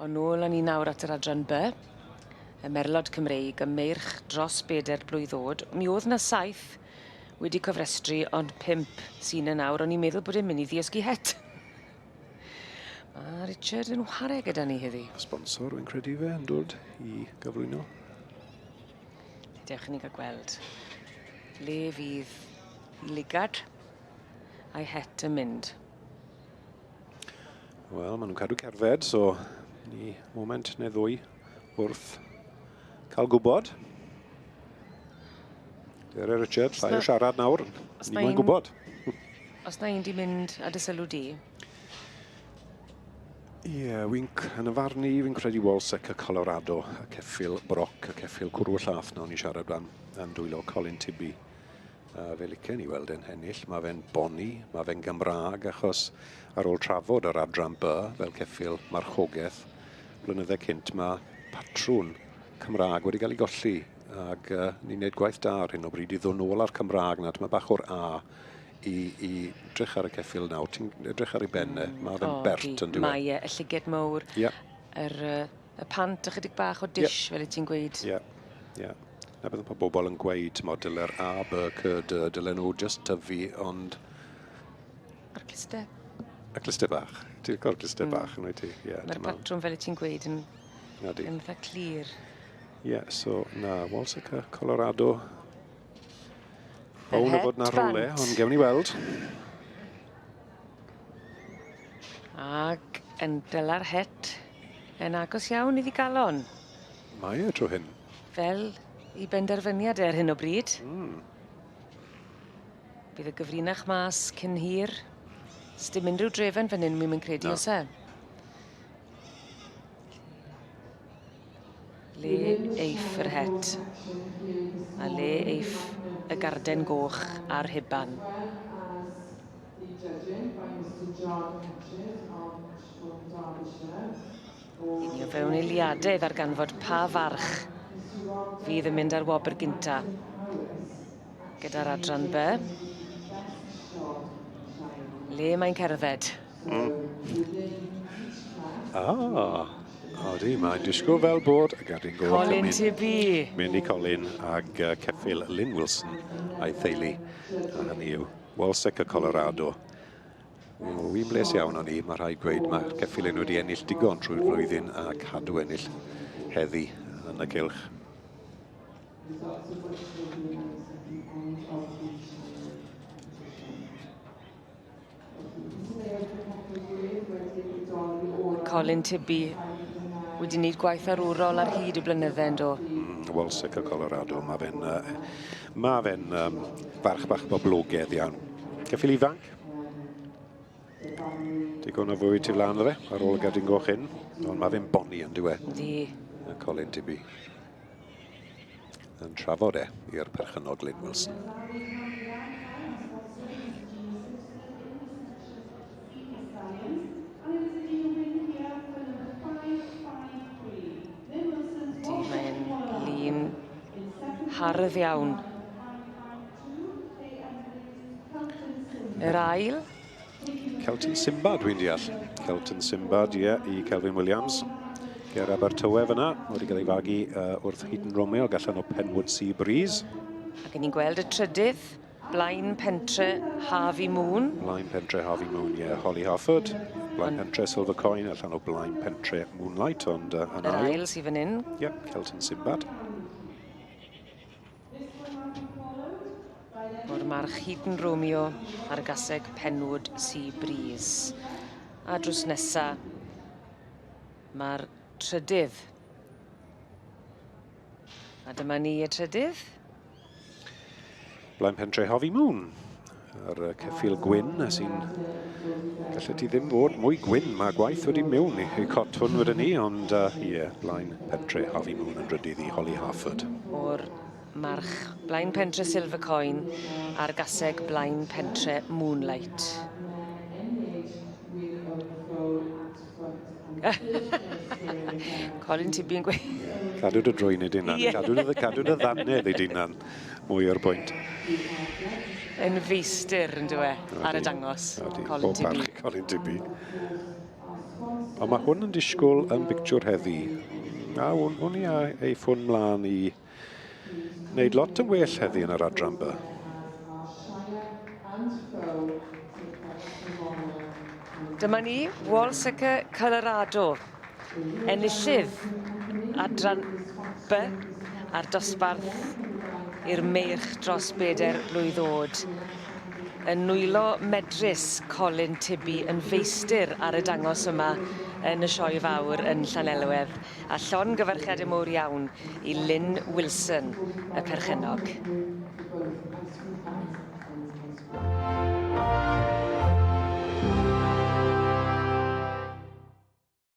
Ond nôl â ni nawr at yr adran by, y merlod Cymreig, y meirch dros bedair blwydd oed. Mi oedd na saith wedi cofrestru, ond pimp sy'n yn awr. O'n i'n meddwl bod e'n mynd i ddiysgu het. Mae Richard yn whare gyda ni heddi. Sponsor yn credu fe yn dod i gyflwyno. Dewch i ni gael gweld le fydd Lugard a'i het yn mynd. Wel, maen nhw'n cadw cerdded, so ni moment neu ddwy wrth cael gwybod. Dere Richard, llai o siarad nawr, ni mae'n gwybod. Os na un di mynd a dysylw di? Ie, yeah, wy'n yn y farn ni, fi'n credu Walsec a Colorado, a ceffil Broc a ceffil Cwrw y Llath, nawr ni'n siarad am, am dwylo Colin Tibby. A fe licen i weld e'n ennill. Mae fe'n boni, mae fe'n Gymraeg, achos ar ôl trafod yr adran by fel ceffil marchogaeth, blynydde cynt mae patrwn Cymraeg wedi cael ei golli ac uh, ni'n gwneud gwaith da ar hyn o bryd i ddod nôl ar Cymraeg nad mae bach o'r A i, i drych ar y ceffil nawr. Ti'n edrych ar ei benne, mm, mae fe'n bert yn diwedd. Mae e, y llyged mowr, yeah. yr uh, y pant ychydig bach o dish, yeah. fel y ti'n gweud. Ie, yeah. ie. Yeah. Na beth mae bobl yn gweud, mae dyle'r A, B, C, D, dylen nhw just tyfu, ond... A'r clister. A clister bach. Ti'n cael clister mm. bach yn oed ti. Yeah, Mae'r patrwm fel y ti'n gweud yn, Nadi. yn dda clir. Ie, yeah, so na, Walsica, Colorado. Bawn o fod na rhywle, ond gewn ni weld. Ag yn dyla'r het yn agos iawn iddi galon. Mae e tro hyn. Fel i benderfyniad e ar hyn o bryd. Mm. Bydd y gyfrinach mas cyn hir. Sdim unrhyw drefen fan hyn, mi'n credu, no. os e? Le eiff yr het, a le eiff y garden goch a'r huban? Yn ni o fewn eiliadau ddarganfod pa farch fydd yn mynd ar wobr gynta gyda'r adran by. Le mae'n cerdded? Mm. Ah, Odi, mae'n disgwyl fel bod y gadwyn gol. Colin Tibi. Mynd i Colin ag uh, ceffil Lynn Wilson a'i theulu. A hynny yw Walsec y Colorado. Wy'n bles iawn o'n i, mae rhaid gweud, mae ceffil yn wedi ennill digon trwy'r flwyddyn a cadw ennill heddi yn y gylch. Colin Tibby wedi wneud gwaith arwrol ar hyd y blynydde yn do? Mm, Wel, sicr Colorado, mae fe'n uh, ma fe um, barch bach boblogedd iawn. Ceffil ifanc. Digon o fwy tu flan fe, ar ôl y gadwyn goch hyn. Ond mae fe'n boni yn diwe. Di. Colin Tibby. yn trafod e i'r perchennog Glyn Wilson. hardd iawn. Yr ail. Kelton Simba, dwi'n deall. Kelton Simba, ie, yeah, i Kelvin Williams. Ger Abertawe fyna, wedi cael ei fagu uh, wrth Heaton Romeo, gallan o Penwood Sea Breeze. Ac ni'n gweld y trydydd, Blaen Pentre Harvey Moon. Blaen Pentre Harvey Moon, ie, yeah. Holly Harford. Blaen Pentre Silver Coin, allan o Blaen Pentre Moonlight, ond uh, yn ail. Yr ail sydd fan hyn. Ie, yeah, Kelton Simbad. O'r march Heaton Romeo ar y gaseg Penwood Sea Breeze. A drws nesa, mae'r trydydd. A dyma ni y trydydd. Blaen Pentre Harvey Moon. A'r uh, ceffil gwyn sy'n... Gallet ti ddim fod mwy gwyn. Mae gwaith wedi mewn i, i cot hwn wedyn ni, ond ie, uh, yeah, blaen pentre Harvey Moon yn rydydd i Holly Harford. O'r march blaen pentre Silver Coin a'r gaseg blaen pentre Moonlight. Colin, ti'n byn gweud? Cadw dy drwy'n ei dynan. Yeah. Cadw dy, cadw dy ddannedd ei dynan. Mwy o'r bwynt. Yn feistir yn dweud e, ar y dangos. Colin Tibby. Colin Tibby. Ond mae hwn yn disgwyl yn bictiwr heddi. A hwn, hwn i ei ffwn mlaen i Wneud lot yn well heddi yn yr adran by. Dyma ni, Wallsacre Colorado, enillydd adran by a'r dosbarth i'r meirch dros bedair blwydd oed. Yn nwylo medrus Colin Tibby yn feistir ar y dangos yma yn y sioe fawr yn Llanelwedd. a llongyfarchiadau mowr iawn i Lynne Wilson, y perchennog.